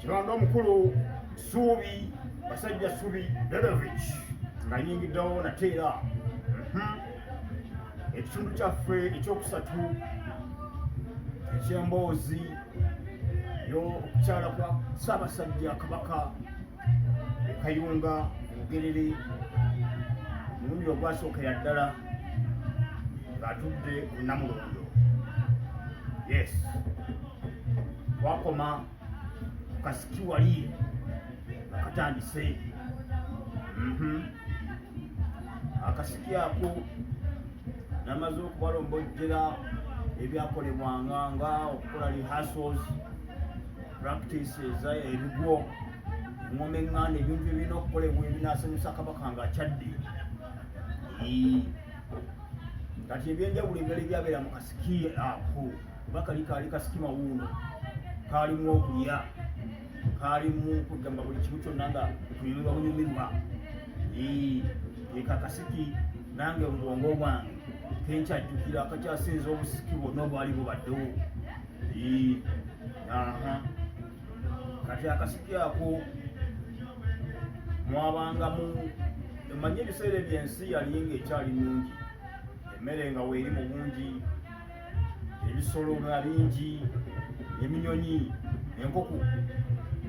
kiranda omukulu suubi basajja subi bedovic nga yingiddewo nate era mhm. ekitundu kyaffe ekyokusatu ekyemboozi yo okukyala kwa ssaabasajja kabaka ekayunga obugerere omulundi ogwasookera ddala ng'atudde ku namulondo yes twakoma kasiki wali akatandise mhm. akasiki ako namaze okubalombojjera ebyakolebwanga nga okukola rehearsals practice eza ebigwo engoma eŋŋanda ebintu ebirina okukolebwa ebinasanyusa kabaka nga akyadde kati ebyenjawulo ebirala ebyabeera mu kasiki ako kuba kali kaali kasiki mawuuno kaalimu okulya kaalimu kugamba buli kimu kyonna nga kunyumirwa bunyumirwa eka kasiki nange obubwongo bwange kenkyajjukira akakyasinza obusiki bwonna obwali bubaddewo kati akasiki ako mwabangamu emanye ebiseera ebyo ensi yali nga ekyali nungi emmere nga weeri mu bungi ebisolo nga bingi eminyonyi enkoko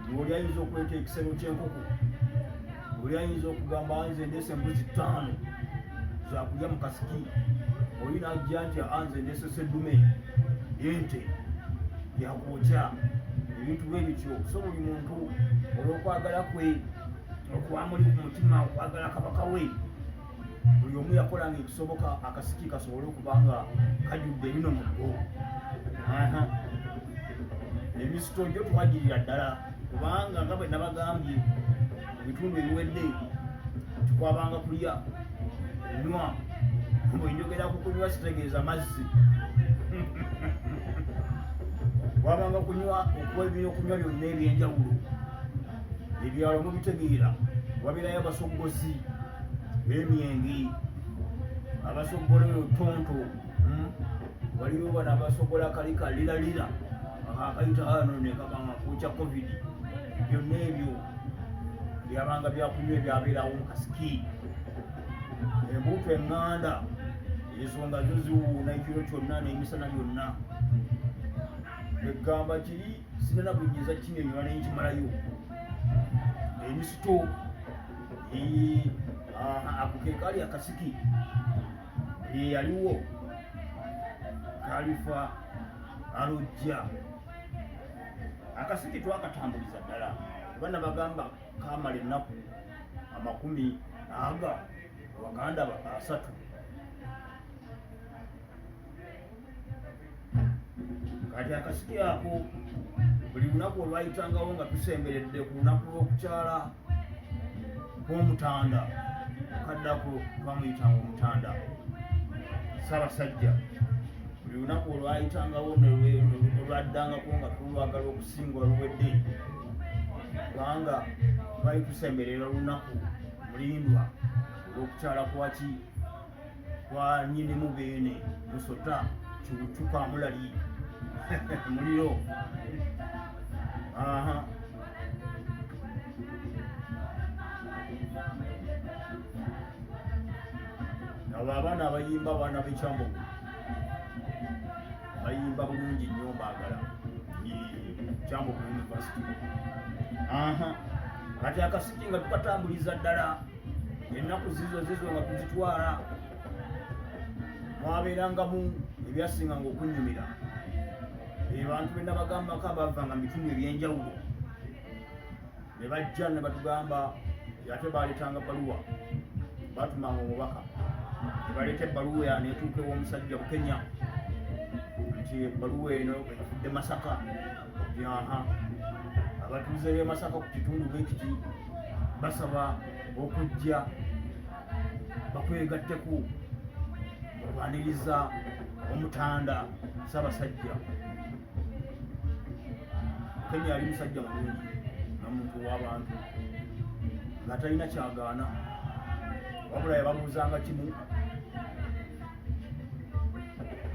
ngaoli ayinza okuleta ekisero kyenkoko oli ayinza okugamba nze ndese embuzi ttaano zakulya mu kasiki oli najja nti anze ndese seddume yente yakwokya ebintu bwe bityo so buli muntu olw'okwagala kwe okwamuli ku mutima okwagala kabaka we buli omu yakola nga ekisoboka akasiki kasobole okuba nga kajudde bino muggo emisito gyo twagirira ddala kubanga nga bwe nabagambye ebitundu ebiwedde tukwabanga kulya nywa bwenjogera ku kunywa sitegeeza mazzi wabanga kunywa okuwa ebyokunywa byonna ebyenjawulo ebyalo mubitegeera wabirayo abasoggozi bemyenge abasoggola eyo tonto hmm? waliwo bano abasoggola kali kaliralira akakayita ano nekabanga kukya covid byonna ebyo byabanga byakunywa ebyabeerawo mukasiki embuutu enganda ensonga zo ziwuuna ekiro kyonna n'emisana byonna egamba kiri sirina bunyinza kinyonyola naye nkimalayo emisito ako ke kaali akasiki eyaliwo kalifa alojja akasiki twakatambuliza ddala bana bagamba kamala ennaku amakumi aga baganda asatu kati akasiki ako buli lunaku olwayitangawo nga tusemberedde ku lunaku lw'okukyala kw'omutanda okaddako twamuyitanga omutanda sabasajja buli lunaku olwayitangawo olwaddangako nga tulwagala okusingwa luwedde kubanga twali tusemberera olunaku mulindwa olw'okukyala kwaki kwanyinimu beene musota kiwucuka mulali muliro aha abo abaana abayimba abaana bekyambogo bayimba bulungi nnyo mbaagala kyambogo university aha kati akasiki nga tukatambuliza ddala ennaku zizo zizo nga tuzitwala mwabeerangamu ebyasinganga okunnyumira ebantu be nabagambako abavanga mu bitundu ebyenjawulo ne bajja ne batugamba ate baaleetanga baluwa batumanga omubaka ne baleeta ebbaluwa ya neetuuka ew'omusajja bukenya nti ebbaluwa eno efudde masaka Yaha abatuuze b'e Masaka ku kitundu bwe kiti basaba okujja bakwegatteku okwaniriza omutanda Ssaabasajja Kenya yali musajja mulungi na muntu w'abantu nga talina kyagaana wabula yababuuzanga kimu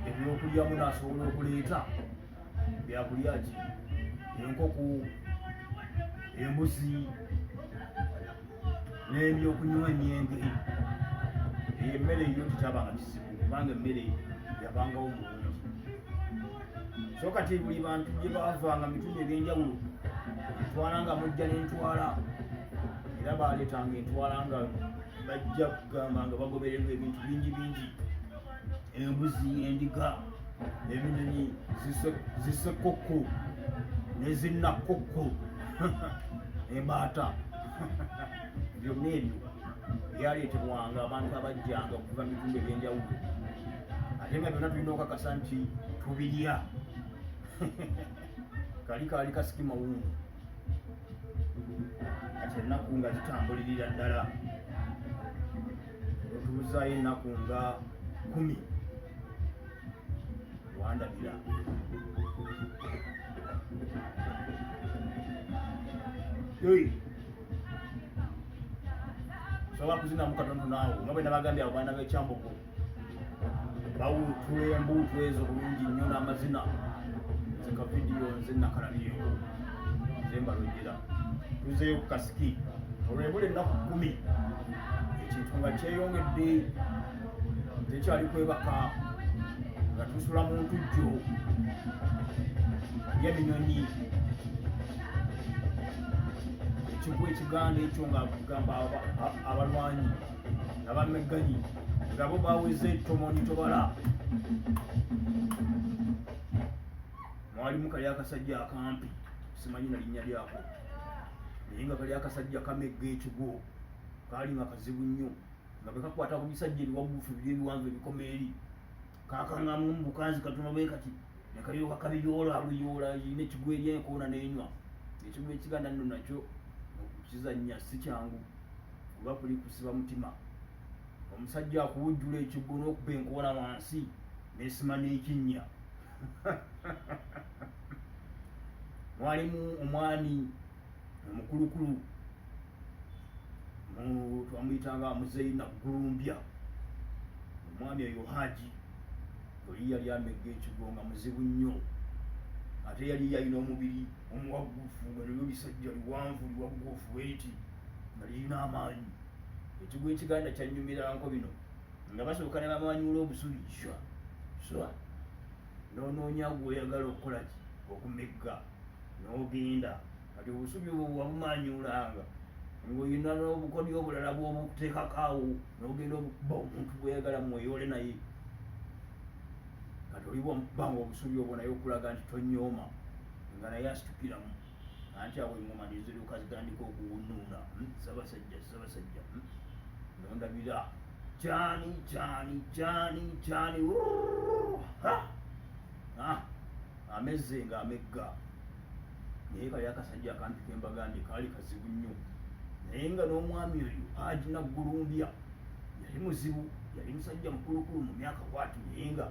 ebyokulyamu naasobola okuleeta byakulya ki enkoko embuzi n'ebyokunywa emyenge eyo emmere eyo tekyabanga kizibu kubanga emmere yabangawo mulungi so kati buli bantu gye baavanga mitundu eg'enjawulo etwala nga mujja n'entwala era baaleetanga entwala nga bajja kugamba nga bagobererwa ebintu bingi bingi embuzi endiga ebinyonyi zisekokko nezinakokko embaata byonna ebyo byaleetebwanga abantu abajjanga okuva mu bitundu ebyenjawulo ate nga byonna tulina okakasa nti tubirya kali kaali kasiki mawungu kati ennaku nga zitambulirira ddala otuuzaayo ennaku nga kumi wandabira sobola kuzinamu katono naawe nga bwe nabagambye abaana b'ekyamboko bawuutula embuutu ezo bulungi nnyo n'amazina nze ka vidiyo nze nakalabyewo nze mbalojera tuzeeyo ku kasiki olwebula ennaku kkumi ekintu nga kyeyongedde tekyali kwebaka nga tusula mu ntujjo yeminyonyi ekigwa ekiganda ekyo nga gamba abalwanyi abamegganyi ngabo baweze tomoni tobala mwalimu kali akasajja akampi simanyi nalinnya lyako naye nga kali akasajja kamegga ekigwo kaali nga kazibu nnyo nga bekakwata ku bisajja ebiwagufu biri ebiwanvu ebikoma eri kakangamu mubukanzi katono bwe kati nekayoka kabiyoola abuyoola yina ekigwo eri enkoona nenywa ekigwo ekiganda nno nakyo okukizannya si kyangu kuba kuli kusiba mutima omusajja akuwujjula ekiggo n'okuba enkoola wansi nesima n'ekinnya mwalimu omwami omukulukulu twamuyitanga muzeyi naggulumbya omwami oyo haji oli yali amegga ekigo nga muzibu nnyo ate yali yalina omubiri omuwaggufu nga nibyo bisajja biwanvu biwaggufu eti nga lirina amaanyi ekigwa ekiganda kyanyumiranko bino nga basooka ne bamanyula obusubi swa swa noonoonya gweoyagala okukolaki okumegga n'ogenda kati obusubi obwo bwabumanyulanga ng'olina n'obukodyo obulala bwobukuteekakaawo n'ogenda okuba omuntu gweyagala mweyole naye kati olibwa mukubanga obusubi obwo naye okulaga nti tonyooma nga naye asitukiramu anti awo engoma neziruka zitandika okuwunuuna hmm? sabasajja sabasajja hmm? nondabira kyani kyani kyani kyani amezze nga amegga naye kali akasajja akampi kembagambye kaali kazibu nnyo naye nga n'omwami oyo haji naggulumbya yali muzibu yali musajja mukulukulu mu myaka kwati naye nga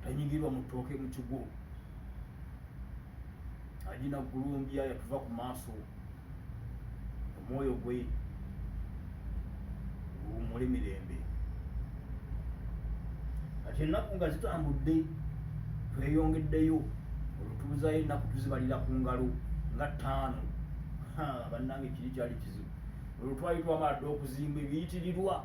tanyigirwa mu ttooke mu kigwo ajina gulumbya yatuva ku maaso omwoyo gwe guwumule mirembe kati ennaku nga zitambudde tweyongeddeyo olutuuzayo ennaku tuzibalira ku ngalo nga ttaano bannange kiri kyali kizibu olwo twali twamala dda okuzimba ebiyitirirwa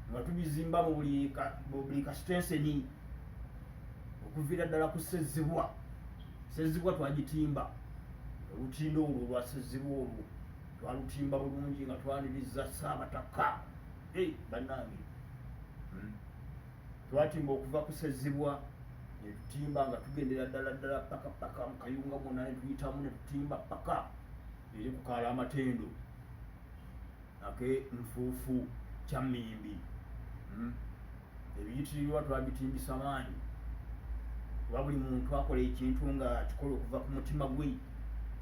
nga tubizimba mu buli kasitenseni okuviira ddala ku sezibwa sezibwa twagitimba olutindo olwo olwa sezibwa olwo twalutimba bulungi nga twaniriza saabataka ei bannange hmm. twatimba okuva ku sezibwa netutimba nga tugendera ddala ddala paka paka mukayunga mwona netuyitamu netutimba paka eri kukaala amatendo ake nfuufu kya mmimbi hmm? ebiyitirirwa twabitimbisa maanyi kuba buli muntu akola ekintu nga kikola okuva ku mutima gwe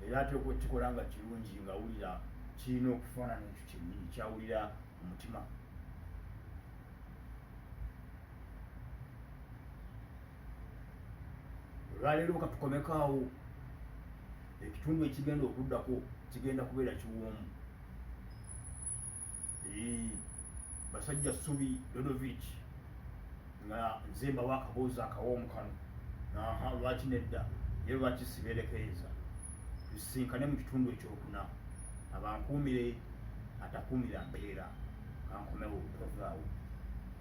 era ateeka okukikola nga kirungi nga awulira kirina okufaanana ekyo kyennyini kyawulira omutima olwaleero katukomeko awo ekitundu ekigenda okuddako kigenda kubeera kiwoomu basajja subi dodovic nga nze mbawo akaboozi akawoomu kano aha lwaki nedda ye lwaki siberekeeza tusisinkane mu kitundu ekyokuna abankuumire atakuumira mbeera kankomewo tovaawo